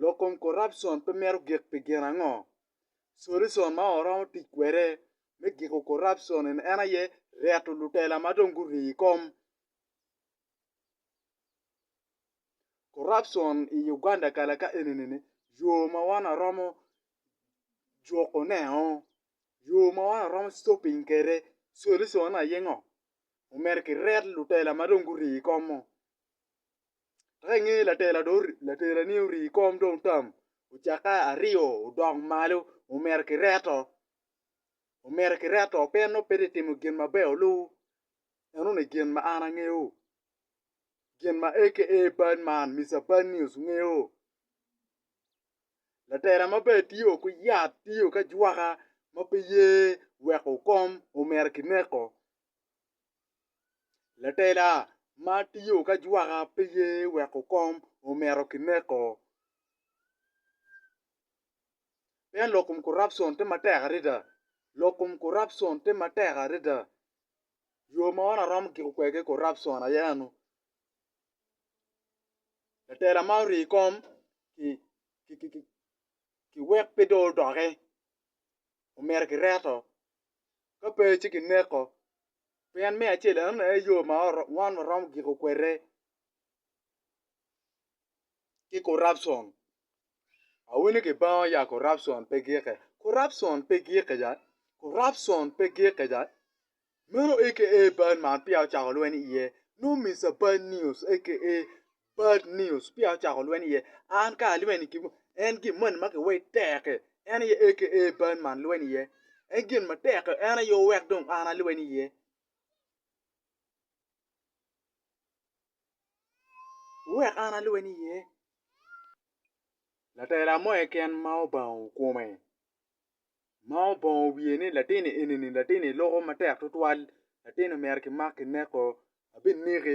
Lok kom corruption pe mito gik pi gin ango? Solution ma waromo tic kwede me giko corruption en aye reto lutela ma dong gurii i kom. Corruption i Uganda kala ka enini yo ma wan waromo juko ne o, yo ma wan waromo stopping kwede solution ne aye ngo? Omyero kiret lutela ma dong gurii i kom-mu. Dok i ngeye latela dong latelani orii kom dong tam ocakke aryo odok malo omito ki reto omito ki reto pe nongo pe tye ka timo gin maber olu enoni gin ma an angeyo gin ma aka bad man Mister Bad News ngeyo latela maber tye o ki yat tye o ki ajwaka ma pe ye weko kom omito ki neko. Latela ma tiyo ki ajwaka pe ye weko kom omito ki neko. Pien lok kom corruption tye matek adada, lok kom corruption tye matek adada. Yo ma wan waromo kiko kwede corruption aye eno. Latela ma orii kom ki-ki-ki wek pe dong odoki omito ki reto ka pe ci kineko. Pien me acel enoni aye yo ma wan waromo giko kwede ki corruption. Awinyo ki bangwa ya corruption pe gike, corruption pe gike ya, corruption pe gike ya. Meno aka bad man peya ocako lweny iye no Mister Bad News aka Bad News peya ocako lweny iye, an ka alweny i kinwu, en gin moni ma kiwei tek-ki, en aye aka bad man lweny iye. En gin matek-ki, en aye owek dong an alweny iye. Wek an alweny iye. Latela mo keken ma obango kome, ma obongo wiye ni latin-ni eni-ni latin-ni loko matek tutwal, latin-ni omyero kimak kineko, abineki,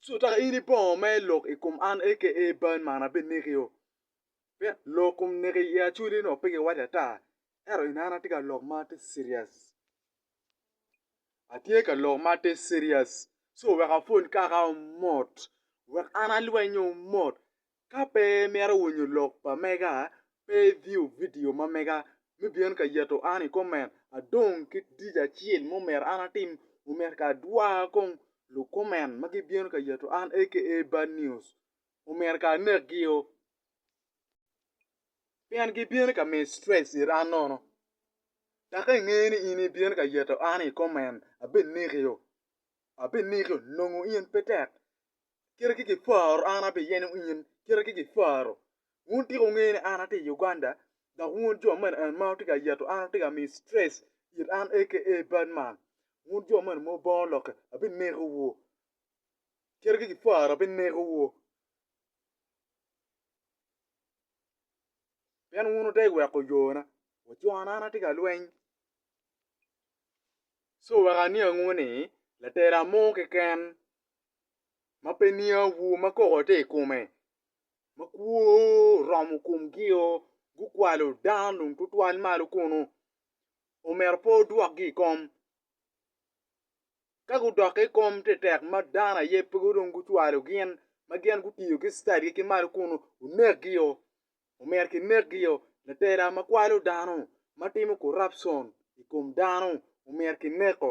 So tok in ibongo ma ilok i kom an aka ee ban man abinekio? Pien lok kom neki i acoli nongo pe giwaco ata, ento in an atye ka lok ma atye serious. Atye ka lok ma atye serious. So wek apwony kaka omot, wek an alwenyo omot, Ka pe imito winyo lok pa mega, pe iviyo vidio ma mega me byen ka yeto an i koment adong ki dic acel ma omyero an atim omyero ka adwa kong lukoment ma gibyen ka yeto an aka bad news omyero ka anekgio pien gibyen ka miyo stress it an nono dok ka ingeyo ni in ibyen ka yeto an i koment abinekiyo abinekiyo nongo in pe tek kite ki giparo an abe yenyo in kite ki giparo. Wun tika wungeyo ni an atye i Uganda dok wun jo mene en ma wutye ka yeto an wutye ka miyo stress it an aka bad man. Wun jo mene mo bongo lokke abineko wu. Kite ki giparo abineko wu. Pien wun wudek weko yona wa co an atye ka lweny. Co wek aniangu ni latela mo keken ma pe niawu ma koko tye i kome ma kwo oromo komgio gukwalo dano dong tutwal malo kunu omyero pe odwokgi i kom ka gudokke i kom tye tek ma dano aye pe dong gucwalo gin ma gin gutiyo ki citadgi ki malo kunu onekgio omyero kinekgio latela ma kwalo dano ma timo corruption i kom dano omyero kineko.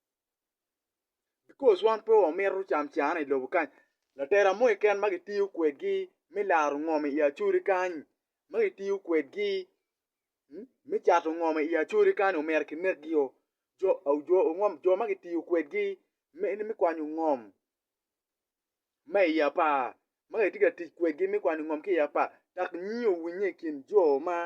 because wan pe wamito camcane i lobo kany latela mo keken ma kitiyo kwedgi me laro ngom i Acoli kany ma kitiyo kwedgi me cato ngom i Acoli kany omyero kinekgio jo ma kitiyo kwedgi me kwanyo ngom ma i apar ma kitye ka tic kwedgi me kwanyo ngom ki i apar dok nyiyo owinye i kin jo ma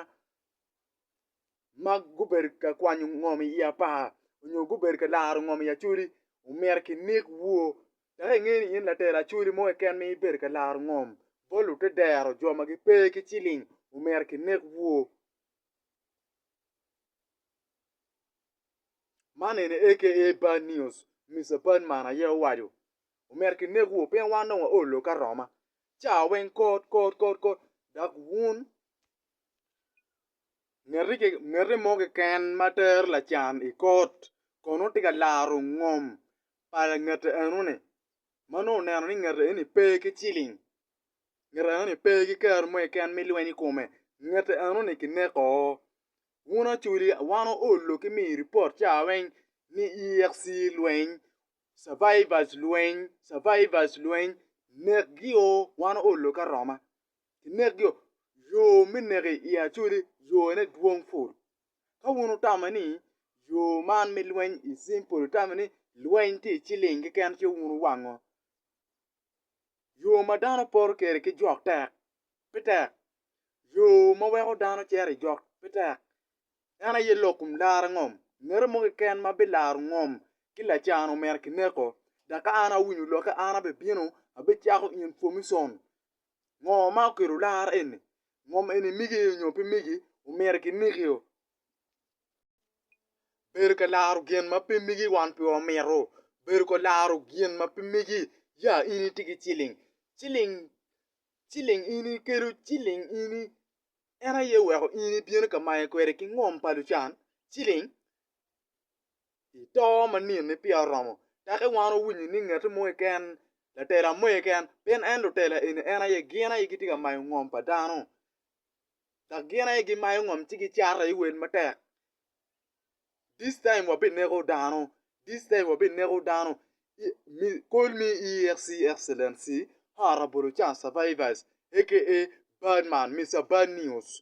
ma gubedo ka kwanyo ngom i apar nyo gubedo ka laro ngom i acholi omyero kinek woo dok inge ni in latero acholi mo keken ma ibedo ka laro ngom bot lute dero jo ma gipe ki ciling omyero kinek woo man eni aka bad news Mister Badman aye owaco omyero kinek woo pien wan dong wa oo lokke aroma cawa weng kot kot kot dok wun ngete mo keken ma tero lacan i kot kono tye ka laro ngom pa langete enoni ma nongo oneno ni ngete eni pe ki ciling ngete enoni pe ki kero mo keken me lweny i kome ngete enoni kineko wun acholi wan oolo ki miyo ripot ca weng ni EAC lweny survivors lweny survivors lweny nekgi oo wan oolo ki aroma. kinekgi-o, yo me neki i Acoli yone dwong pol. Ka wun wutamo ni yo man me lweny i cing pol, wutamo ni lweny tye i ciling keken ci wun wuwango. Yo ma dano poto kwede ki jok tek, pe tek, yo ma weko dano cito i jok pe tek. En aye lok kun laro ngom. Ngati mo keken ma bilaro ngom ki lacan-nu myero kineko. Dok ka an awinyo lokke, an abibino, abicako information Ngo ma okelo lar eni? Ngom eni migi nyo pe migi, omyero kinekio. Bedo ka laro gin ma pe migi wan pe wamito. Bedo ka laro gin ma pe migi, ya in itye ki ciling, ciling, ciling in ikelo ciling in en aye oweko in ibino ka mayo kwede ki ngom pa lucan, ciling. I to ma nino-ni peya oromo, tek i wan owinyo ni ngati mo keken, latela mo keken, pien en lutela eni en aye gin aye gitye ka mayo ngom pa dano dok gin aye gimayo ngom ci gicato aye wel matek. This time wabineko dano, this time wabineko dano, call me EACC excellency Her Rabolocan survivors aka Badman, Mister Bad News.